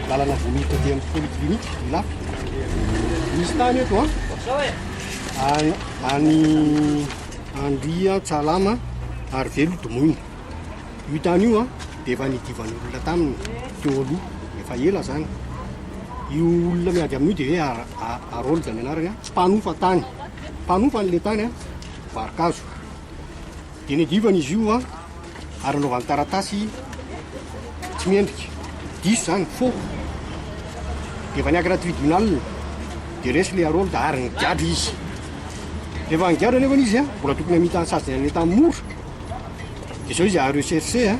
Lalana vao miditra aty amin'ny polyclinique Ilafy. Misy tany eto an. Any any Andria Tsalama ary velo domoina. Io tany io an dia efa nidivan'olona taminy teo aloha efa ela zany. Io olona miady amin'io dia hoe Ar- Ar- Harold ny anarany an, mpanofa tany. Mpanofa an'ilay tany an, varokazo. Dinidivana izy io an, ary anaovany taratasy tsy mendrika. Diso zany, faux. Dia efa niankina tribunal, dia resy le Harold ary nigadra izy. Rehefa nigadra anefany izy an, mbola tokony hamita sazy dia nanentana mora. Dia zao izy à rechercher an,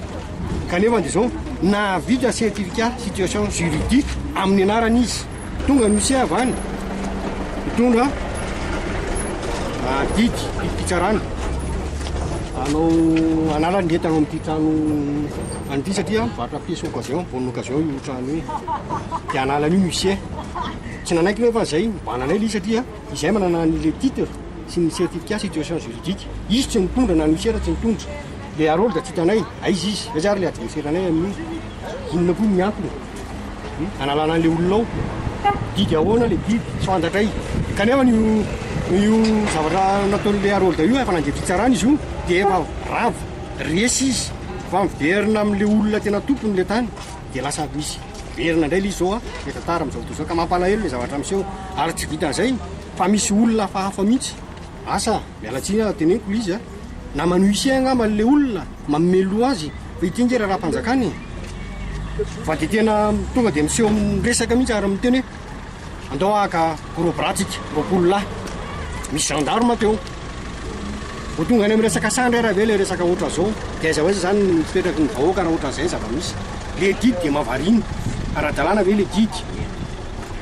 kanefany dia zao nahavita certificat situation juridique amin'ny anarany izy. Tonga ny huissier avy any hitondra didy fidim-pitsarana hanao hanala ny entana ao amin'ity trano any ity satria mivarotra pièce occasion, bonne occasion io trano io. Dia hanala an'io ny huissier. Tsy nanaiky nefa izay nibanana anay ilay izy satria izay manana an'ilay titre sy ny certificat situation juridique. Izy tsy nitondra na ny huissier tsy nitondra. Ilay Harold tsy hitanay aiza izy, aiza ary ilay adversaire-nay amin'io, inona koa ny antony. Hanalana an'ilay olona ao. Didy ahoana ilay didy? Tsy fantatray. Kanefa io io zavatra nataon'ilay Harolda io efa nandeha fitsarana izy io dia efa ravo. Resy izy fa miverina amin'ilay olona tena tompony ilay tany dia lasa misy miverina indray ilay izy izao efa tara amin'izao fotoana izao ka mampalahelo ilay zavatra miseho ary tsy vitan'izay fa misy olona hafahafa mihitsy. Asa, miala tsiny aho teneniko le izy a! Naman'i Huissier angamba le olona manome loha azy fa ity nge raharaham-panjakana e! Fa de tena tonga de miseho miresaka mihitsy ary miteny hoe andao haka gros bras tsika roapolo lahy! Misy gendarme teo! Vao tonga any amin'ny resaka sandry ary ve le resaka ohatra zao! De aiza ho aiza zany ny fipetraky ny vahoaka raha ohatran'izay ny zava-misy! Le didy de mahavariana! Ara-dalàna ve le didy!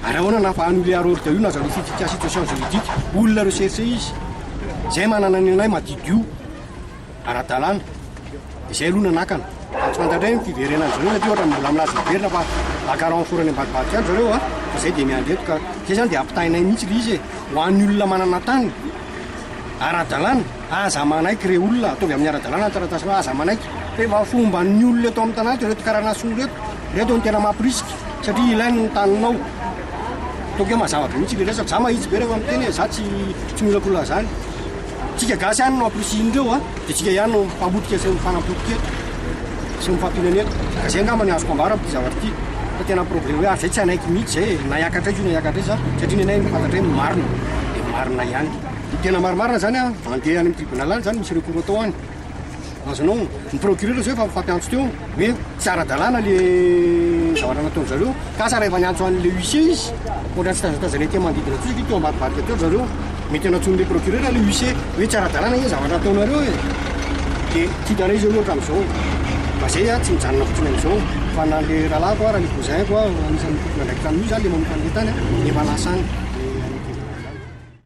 Ary ahoana na fa annuler hors de io na zareo fifi cas situation juridique olona rechercher izy zay manana ny anay madidio ara-dalàna izay aloha nanakana fa tsy fantatra ny fiverenany zareo satria ohatra mbola milaza miverina fa baka renfort-ny ambadibadik any zareo a fa zay dia miandry eto ka zay zany dia ampitahainay mihitsy le izy e ho an'ny olona manana tany ara-dalàna Aza manaiky re olona, ataovy amin'ny ara-dalàna ny taratasinao, aza manaiky. Fa efa fomba ny olona eto amin'ny tanàna eto ireto karana soa ireto, ireto no tena mamporisika satria ilainy ny taninao. Ataovy hoe mazava be mihitsy ilay resaka, za mahitsy be rehefa miteny e, za tsy tsy miolakolona zany. Tsika gasy ihany no ampirisihin'ireo a, de tsika ihany no mpamotika sy mifanapotika eto sy mifampionana eto. Ka zay angamba ny azoko ambara amin'ity zavatra ity fa tena problème hoe ary zay tsy hanaiky mihitsy zay e, na hiakatra aiza io na hiakatra aiza satria nenay ny fantatray ny marina de marina ihany. Ny tena marimarina zany an, andeha any amin'ny tribunal any zany misy recours atao any. Azonao ny procureur zao efa mifampiantso teo hoe tsy ara-dalàna le zavatra nataon'ny zareo. Ka asa raha efa niantso an'le huissier izy, ohatra ny fitazatazanay teo manodidina tsotra ve teo ambadibadika teo ry zareo, mety hanatsoin'le procureur le huissier hoe tsy ara-dalàna anie ny zavatra ataonareo e. Dia tiako hanao izy hoe ohatra amin'izao, mba zay an, tsy mijanona fotsiny amin'izao fa na le rahalahiko ara le cousin-ko an, anisan'ny tompon'andraikitra amin'io zany le manompa an'le tany an, efa lasa any.